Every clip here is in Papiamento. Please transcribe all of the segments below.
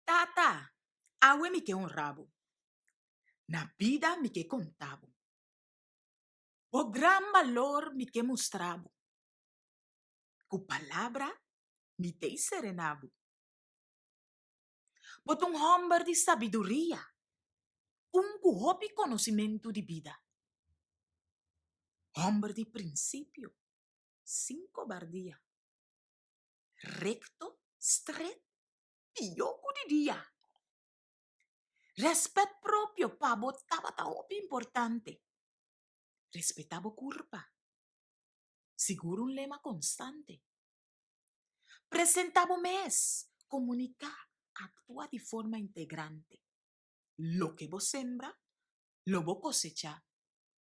Tata, awe mi ke honra bo. Na bida mi ke konta bo. Bo gran balor mi ke mustra bo. Ku palabra mi dei serena bo. Bo ta un hòmber di sabiduria, un ku hopi konosementu di bida, hòmber di prinsipio, sin kobardia. rekto, stret, pió ku di dia. Rèspèt propio pa bo tabata hopi importante. Respetá bo kurpa, sigur un lema konstante. Presentá bo mes, komuniká, aktua di forma integrante. Loke bo sembra, lo bo kosechá,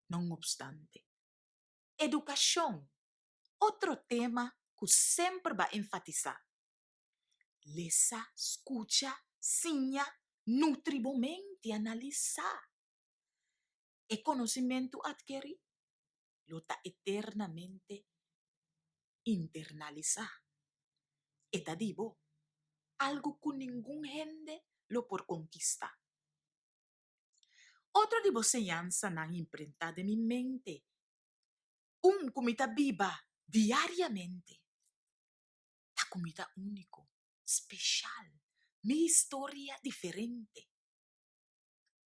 non obstante. Edukashon otro tema ku semper ba enfatisá, lesa, skucha, siña, nutri bo menti, analisá. E konosimentu atkerí lo ta eternamente internalisá. E ta di bo algu ku ningun hende lo por konkistá. Otro di bo señansanan imprentá den mi mente un ku mi ta biba diariamente. Ta ku mi ta úniko, speshal, mi historia diferente.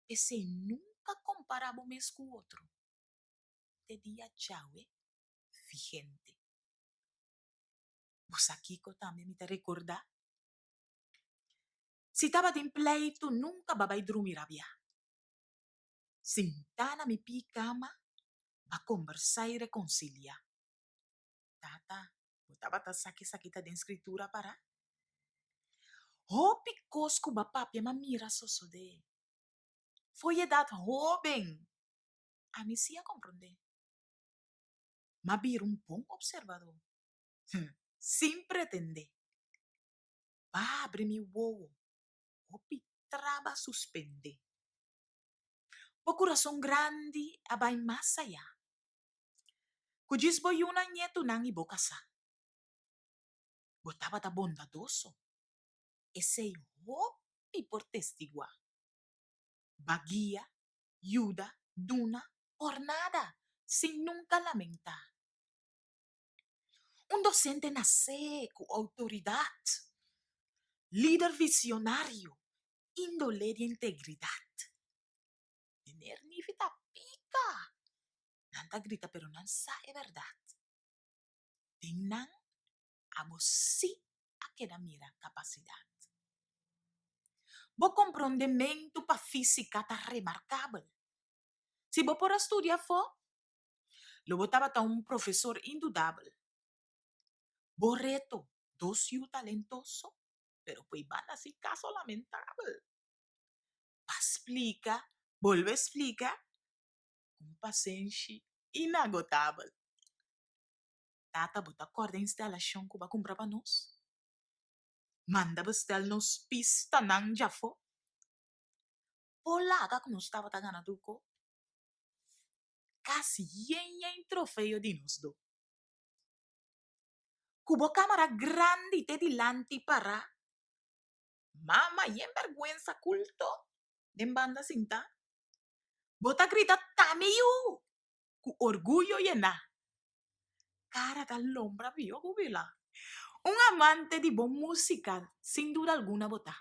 P'esei nunka kompara bo mes ku otro, te dia djawe vigente. Bo sa kiko tambe mi ta rekordá? Si tabatin pleitu nunka ba bai drumi rabiá. sentá na mi pí kama pa kombersá i rekonsiliá. Tata, bo tabata sa ke esaki ta den Skritura pará? Hopi kos ku bo papia mi a mira sosodé for edat hóben, ami sí a komprondé. Mi a bira un bon opservadó, sin pretendé. Bo a abri mi wowo Hopi traba suspendé. Bo kurason grandi a bai mas ayá. Ku djis bo yuna ñetunan i bo kasá. Bo tabata bondadoso. Esei hopi por testiguá. B'a guia, yuda, duna, por nada, sin nunka lamentá. Un dosente nasé ku outoridat, lider visionario, índole di integridat. Meneer Nifi ta pika. Nan ta grita pero nan sa e bèrdat. Den nan abo sí a keda mira kapasidat. Bo komprondementu pa físika ta remarkabel. Si bo por a studia afó, Lo bo tabata un profesor indudabel. Bo reto, Dos yu talentoso, pero poi banda si caso lamentabel. Pa splica, bolbe splica, un pasenshi inagotabel. Tata, bo ta corda e instalacion cu bo a cumpra pa nos? Manda bestel nos pistanan djafo. Bo laga cu nos tabata gana tur co? Kas yen yen trofeo di nos do. Ku bo kamera grandi te dilanti pará, mama yen bèrgwensa kulto den banda sintá, bo ta grita ta mi yu ku orguyo yená. Cara ta lombra bio cu Vila. Un amante di bon musica sin duda alguna bo ta.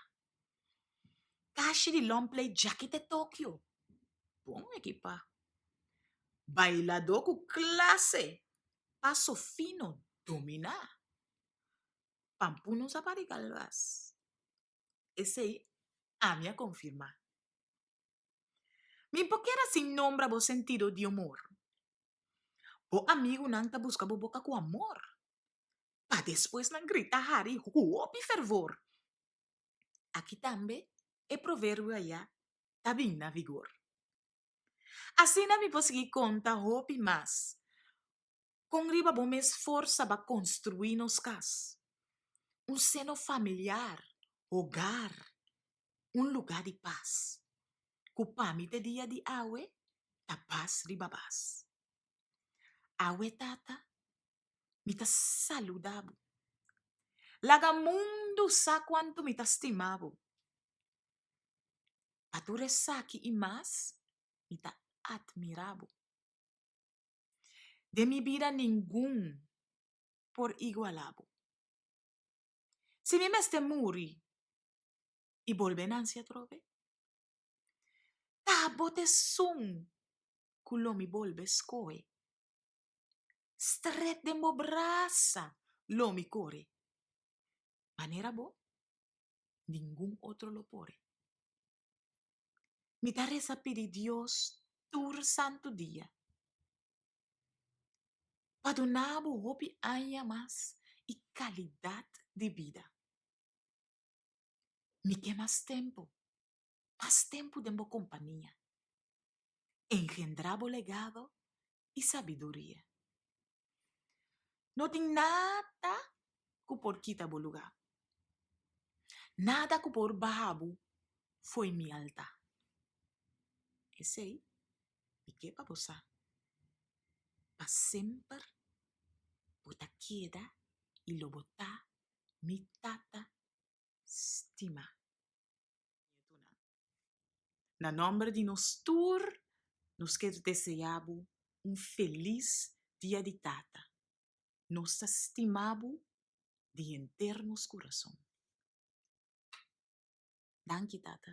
Cashi di long play Jackie te Tokyo, bon ekipa. Bailador cu clase, paso fino, domina. Pampunos a pari galvas. Esey ami a confirma. Mi por keda sin nombra bo sentido di omor. Bo amigunan ta buska bo boka ku amor, pa despues nan grita hari hopi fervor. Aki tambe e proverbio aya ta bin na vigor. Asina mi por sigui konta hopi mas, Kon riba bo mes forsa ba konstruí nos kas? Un seno familiar, hogar, un lugá di pas. Ku pa mi te dia di awe ta pas riba bas. Awe tata, mi ta saludá bo. Laga mundu sa kuantu mi ta stima bo. Pa tur esaki i mas, mi ta atmirá bo. Den mi bida ningun por iguala bo. Si mi mester muri i bolbe nansi atrobe, ta bot esun ku lo mi bolbe skohe. Stret den bo brasa lo mi kore, manera bo ningun otro lo por. Mi ta resa pidi Dios tur santu dia pa duna bo hopi aña mas i kalidat di bida. Mi ke mas tempu, mas tempu den bo kompania. Engendrá bo legado i sabiduria. No tin nada ku por kita bo lugá. Nada ku por baha bo fo'i mi altá. P'esei, mi ke pa bo sa, pa semper bo ta keda i lo bo ta mi tata stimá. Na nòmber di nos tur, nos ker deseá bo un felis Dia di Tata. Nos ta stima bo di henter nos kurason. Danki, Tata.